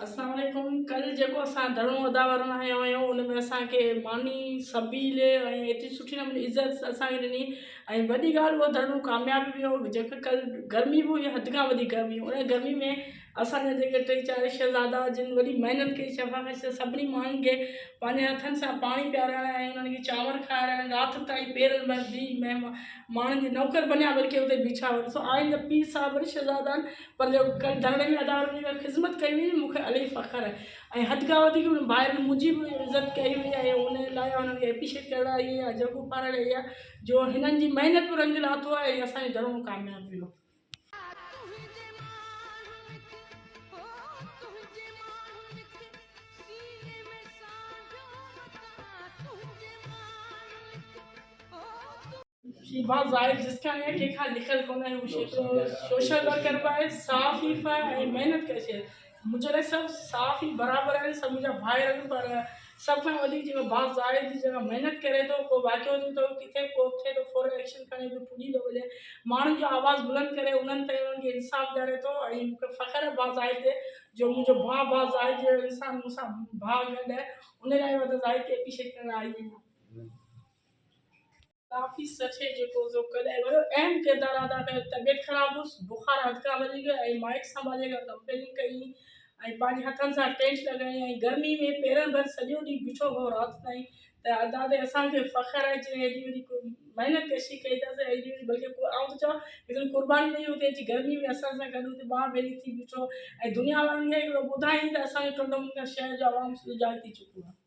اسلام عليڪم ڪل جيڪو اسان ڌرڻو ادا ورن هنيو هيو ان ۾ اسان کي ماني سبيل ۽ ايتري سٺي نموني عزت اسان کي ڏني ۽ وڏي ڳالهه اهو ڌرڻو ڪامياب ويو جيڪو ڪل گرمي به هئي حد کان وڌيڪ گرمي هئي ان گرمي ۾ اسان جا جيڪي ٽي چار شهزادا جن وڏي محنت ڪئي شفا خش جا سڀني ماڻهن کي پنهنجي هٿن سان پاڻي پيارائڻ ۽ انهن کي چانور کارائڻ رات تائين پيرن ڀر بيهي مهمان ماڻهن جي نوڪر بنيا بلڪه اتي بيٺا هئا ڏسو آئنده پير صاحب وري شهزادن پر جو ڪڏهن ڌرڻي ۾ ادا وڃي ڪري خدمت ڪئي وئي مون کي الائي فخر آهي ۽ حد کان وڌيڪ انهن ڀائرن منهنجي به عزت ڪئي وئي آهي ان لاء انهن کي اپريشيٽ ڪرڻ آئي آهيان جهڳو پارڻ آئي آهيان جو هنن جي محنت به رنگ لاٿو آهي ۽ اسان جو ڌرڻو ڪامياب ويو آهي شيبا زاهد جسڪاڻي کي کان لکل ڪونه آهي هو سوشل ورڪر به آهي صاف ئي به آهي ۽ محنت ڪري ڇڏي منهنجي لاء سڀ صاف ئي برابر آهن سڀ منهنجا ڀائر آهن پر سڀ کان وڌيڪ جيڪو با زاهد جي جيڪا محنت ڪري ٿو ڪو واقعو ٿيو ته ڪٿي ڪو ٿئي ٿو فورن ايڪشن کڻي ٿو پڄي ٿو وڃي ماڻهن جو آواز بلند ڪري انهن تائين انهن کي انصاف ڏياري ٿو ۽ مونکي فخر آهي با زاهد تي جو منهنجو با با زاهد جهڙو انسان مون سان ڀاء گڏ آهي ان لاء وڌ زاهد کي ايپريشيٽ ڪرڻ آئي آهيان ڪافي سٺي جيڪو سو ڪڏهن وڏو اهم ڪردار ادا ڪيو طبيعت خراب هئس بخار حد کان وڌي ويو ۽ مائٽ سنڀالي کان ڪمپلين ڪئي ۽ پنهنجي هٿن سان ٽينٽ لڳائي ۽ گرمي ۾ پيرن ڀر سڄو ڏينهن بيٺو هو رات تائين ته ادا تي اسان کي فخر آهي جنهن ايڏي وڏي محنت ڪشي ڪئي ته اسان ايڏي وڏي بلڪه ڪو آئون ته چوان هڪڙي قرباني ڏئي اتي اچي گرمي ۾ اسان سان گڏ اتي ٻانهن ڀيڙي ٿي بيٺو ۽ دنيا وارن کي هڪڙو ٻڌائين ته اسان جي ٽنڊو ملڪان شهر جو عوام سڄو جاڳ ٿي چڪو آهي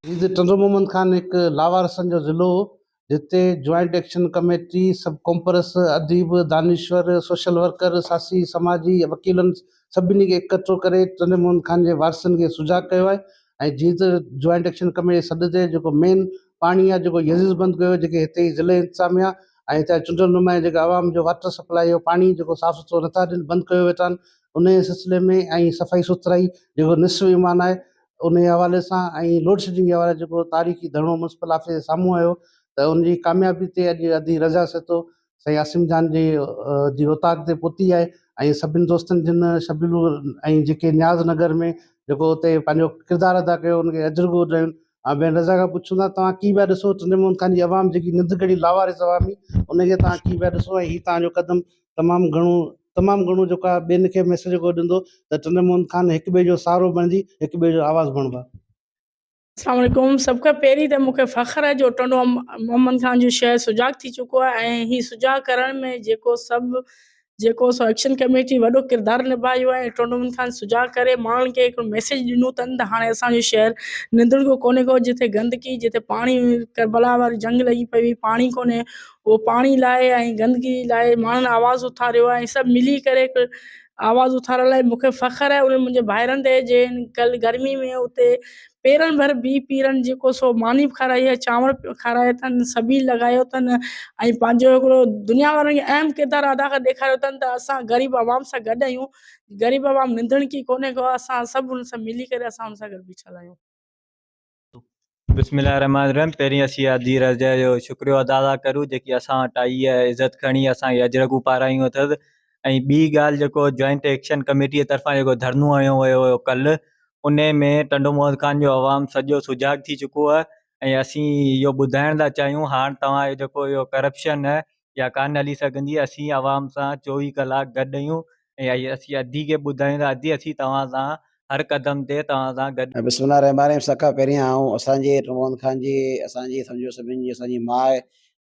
جيئن ٽنڊو محمد خان هڪ لاوارثن جو ضلعو هو، جتي جوائنٽ ايڪشن ڪميٽي، سب ڪونپرس، اديب، دانشور، سوشل ورڪر، ساسي، سماجي، وڪيلن سڀني کي اڪٺو ڪري ٽنڊي محمد خان جي وارثن کي سجاڳ ڪيو آهي ۽ جيئن ته جوائنٽ ايڪشن ڪميٽي جي سڏ تي جيڪو مين پاڻي آهي جيڪو يزيز بند ڪيو ويو جيڪي هتي جي ضلعي انتظاميا ۽ هتان جي چونڊيل نمايان جيڪا عوام جو واٽر سپلاء جو پاڻي جيڪو صاف سٿرو نٿا ڏين بند ڪيو ويٺا آهن ان جي سلسلي ۾ ۽ صفائي سٿرائي جيڪو نصف ايمان آهي ان جي حوالي سان ۽ لوڊشيڊنگ جي حوالي سان جيڪو تاريخي ڌرڻو ميونسپل آفيس جي سامهون آيو ته ان جي ڪاميابي تي اڄ ادي رضا سهتو سائين عاصم جان جي جي اوطاق تي پهتي آهي ۽ سڀني دوستن جن شبيلو ۽ جيڪي نياز نگر ۾ جيڪو اتي پنهنجو ڪردار ادا ڪيو ان کي اجر گهور رهيون ۽ بين رضا کان پڇون ٿا توهان ڪي پيا ڏسو ٽنڊي محمد خان جي عوام جيڪي ننڊ ڪڙي لاوارث عوامي ان کي توهان ڪي پيا ڏسو ۽ هي توهان جو قدم تمام گهڻو تمام گهڻو جيڪو آهي ٻين کي ميسيج جيڪو ڏيندو ته ٽنڊو موهن خان هڪ ٻئي جو سهارو بڻجي هڪ ٻئي جو آواز بڻبا. اسلام عليڪم سڀ کان پهرين ته مون کي فخر آهي جو ٽنڊو محمد خان جو شهر سجاڳ ٿي چڪو آهي ۽ هي سجاڳ ڪرڻ ۾ جيڪو سڀ جيڪو سو ايڪشن ڪميٽي وڏو ڪردار نڀايو آهي ۽ ٽنڊو محمد خان سجاڳ ڪري ماڻهن کي هڪڙو ميسيج ڏنو تن ته هاڻي اسان جو شهر نندڻ ڪو ڪونهي ڪو جتي گندگي جتي پاڻي ڪربلا واري جنگ لڳي پئي هئي پاڻي ڪونهي اهو پاڻي لاء ۽ گندگي لاء ماڻهن آواز اٿاريو آهي ۽ سڀ ملي ڪري هڪ آواز اٿارڻ لاء مونکي فخر آهي انهن منهنجي ڀائرن تي جن ڪل گرمي ۾ اتي پيرن ڀر بيهي پيرن جيڪو سو ماني به کارائي آهي چانور کارائي اٿن سبيل لڳايو اٿن ۽ پنهنجو هڪڙو دنيا وارن کي اهم ڪردار ادا ڪري ڏيکاريو اٿن ته اسان غريب عوام سان گڏ آهيون غريب عوام ننڌڻڪي ڪونهي ڪو اسان سڀ ان سان ملي ڪري اسان ان سان گڏ بيٺل آهيون بسم الله الرحمٰن الرحيم پهرين اسين اها ڌيء رضيه جو شڪريو ادا ٿا ڪريون جيڪي اسان وٽ آئي ۽ عزت کڻي اسان کي اجرڪون پارايون اٿس ۽ ٻي ڳالهه جيڪو جوائنٽ ايڪشن ڪميٽيء طرفان جيڪو ڌرنو هنيو ويو هيو ڪلهه انهي ۾ ٽنڊو محمد خان جو عوام سڄو سجاڳ ٿي چڪو آهي ۽ اسين اهو ٻڌائڻ ٿا چاهيون هاڻ توهان جو جيڪو اهو ڪرپشن يا ڪانه هلي سگهندي اسين عوام سان چوويهه ڪلاڪ گڏ اهيون ۽ اسين ادي کي ٻڌايون ته ادي اسين توهان سان هر قدم تي توهان سان گڏ بسم الله الرحمٰن الرحيم سڀ کان پهرين آئون اسان جي رمضان خان جي اسان جي سمجهو سڀني جي اسان جي ماء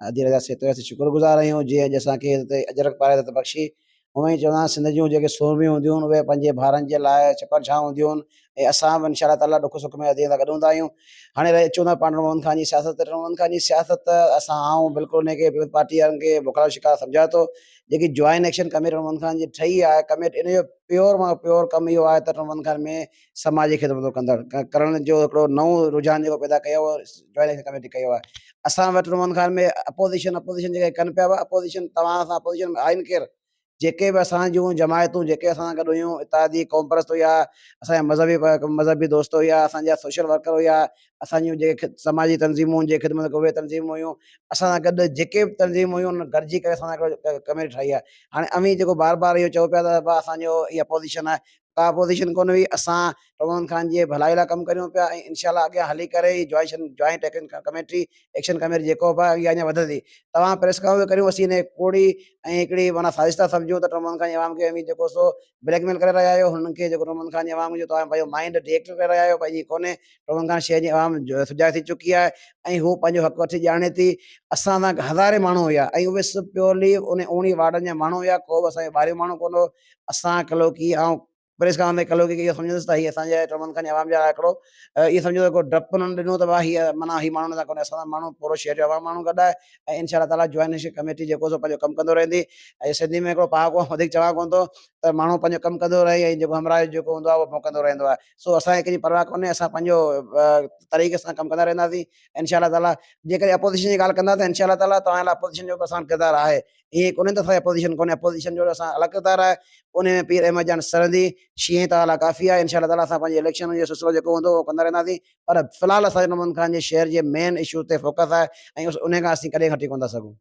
ادي رضا سيتويا سي شڪر گذار آهيون جنهن اڄ اسان کي اجرڪ پاري عزت بخشي اوهين ئي چوندان سنڌ جون جيڪي سورميون هونديون آهن اهي پنهنجي ڀائرن جي لاء ڇپر ڇانو هونديون آهن ۽ اسان به انشاء الله تعاليٰ ڏک سک ۾ هٿين هٿ گڏ هوندا آهيون. هاڻي رهي اچون ٿا پاڻ عمران خان جي سياست تي عمران خان جي سياست اسان آئون بلڪل ان کي پيپلز پارٽي وارن کي بکلا جو شڪار سمجهان ٿو جيڪي join action committee Imran Khan جي ٺهي آهي ڪميٽ ان جو پيور مان پيور ڪم اهو آهي ته عمران خان ۾ سماجي خدمتون ڪندڙ ڪرڻ جو هڪڙو نئون رجحان جيڪو پيدا ڪيو آهي جوائنٽ اليڪشن ڪميٽي ڪيو آهي اسان وٽ روحان خان ۾ اپوزيشن اپوزيشن جيڪي ڪن پيا اهي اپوزيشن توهان سان اپوزيشن ۾ آهن ڪير جيڪي به اسان جون جماعتون جيڪي اسان سان گڏ هيون اتحادي قومپرست هيا اسان جا مذهبي مذهبي دوست هيا اسان جا سوشل ورڪر هيا اسان جون جيڪي سماجي تنظيمون جي خدمت اهي تنظيمون هيون اسان سان گڏ جيڪي به تنظيمون هيون انهن گڏجي ڪري اسان سان ڪميٽي ٺاهي آهي هاڻي اوهين جيڪو بار بار اهو چئو پيا ته اسان جو اپوزيشن آهي ڪا اپوزيشن ڪونه هئي، اسان عمران خان جي ڀلائي لاء ڪم ڪريون پيا ۽ انشاء الله اڳيان هلي ڪري هي جوائشن joint action committee action committee جيڪو به آهي اها اڃا وڌندي. توهان پريس ڪانفرنس به ڪريون اسين هي ڪوڙي ۽ هڪڙي معنيٰ سازش ٿا سمجهون ته عمران خان جي عوام کي اوهين جيڪو سو بليڪ ميل ڪري رهيا آهيو هنن کي جيڪو عمران خان جي عوام جو توهان پنهنجو مائينڊ ڊي ايڪٽيويٽ ڪري رهيا آهيو پر ائين ڪونه عمران خان شهر جي عوام سجاڳ ٿي چڪي آهي ۽ هو پنهنجو حق وٺي ڄاڻي ٿي. اسان سان هزارين ماڻهو هيا ۽ اهي سڀ پيورلي انهن اوڻيهه وارڊن جا ماڻهو هيا ڪو به اسان جي ٻاهريون ماڻهو ڪونه هو. اسان ڪلهوڪي، آئون پريس ڪران تي ڪلهوڪي کي اهو سمجهندس ته هي اسان جي ٽرمن کان عوام جا آڪڙو اهي سمجهو ته ڪو ڊپ انهن ڏنو ته واهه هي معنيٰ هي ماڻهو نه ڪونهي اسان سان ماڻهو پورو شهر جو عوام ماڻهو گڏ آهي ۽ انشاء الله تعالٰي جوائنٽ ڪميٽي جيڪو سو پنهنجو ڪم ڪندو رهندي ۽ سنڌي ۾ هڪڙو پهاڪو آئون وڌيڪ چوان ڪونه ٿو ته ماڻهو پنهنجو ڪم ڪندو رهي ۽ جيڪو همراهه جو جيڪو هوندو آهي اهو ڀونڪندو رهندو آهي سو اسان کي ڪنهن جي پرواهه ڪونهي اسان پنهنجو طريقي سان ڪم ڪندا رهنداسين انشاء الله تعالٰي جيڪڏهن اپوزيشن جي ڳالهه ڪندا ته انشاء الله تعالٰي توهان لاء اپوزيشن جو به آسان ڪردار آهي ائين ڪونهي ته ساري اپوزيشن ڪونهي اپوزيشن جو اسان الڳ ڪردار آهي انهي ۾ پير احمد جان سرهندي شينهن تعاليٰ ڪافي آهي انشاء الله تعاليٰ اسان پنهنجي اليڪشن جو سلسلو جيڪو هوندو اهو ڪندا رهنداسين پر في الحال اسان جو محمد خان جي شهر جي مين اشوز تي فوڪس آهي ۽ انهي کان اسين ڪڏهن هٽي ڪونه ٿا سگهون.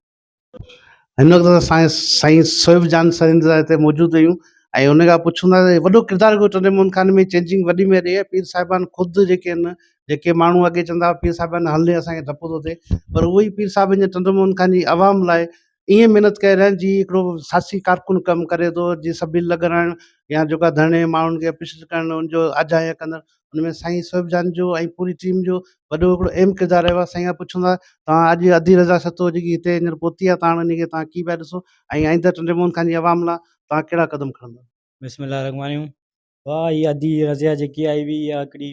هن وقت اسان سائين سهيب جان سرهندي صاحب هتي موجود هيون ۽ انهي کان پڇون ٿا ته وڏو ڪردار ڪوهي ٽنڊي محمد خان ۾ چينجنگ وڏي ۾ رهي آهي پير صاحبان خود جيڪي آهن جيڪي ماڻهو اڳي چوندا هئا پير صاحب اڃا هلي اسان کي ڊپ ٿو ٿئي پر اهو ئي پير صاحب ڄڻ چندو موهن خان جي عوام لاء ائين محنت ڪئي رهيا جي هڪڙو ساسي ڪارڪن ڪم ڪري ٿو جي سبيل لڳرائڻ يا جيڪا ڌرڻي ماڻهن کي اپيشن ڪرڻ ان جو آجيان ڪندڙ ان ۾ سائين سهيب جان جو ۽ پوري ٽيم جو وڏو هڪڙو اهم ڪردار رهيو آهي سائين کان پڇون ٿا توهان اڄ ادي رضا سهتو جيڪي هتي هينئر پهتي آهي تاڻ انهي کي توهان ڪي پيا ڏسو ۽ آئنده ٽنڊي موهن خان جي عوام لاء توهان ڪهڙا قدم کڻندا بسم الله الرحمٰن الرحيم واھ اھا ادي رضيا جيڪي آئي ھئي اھا ھڪڙي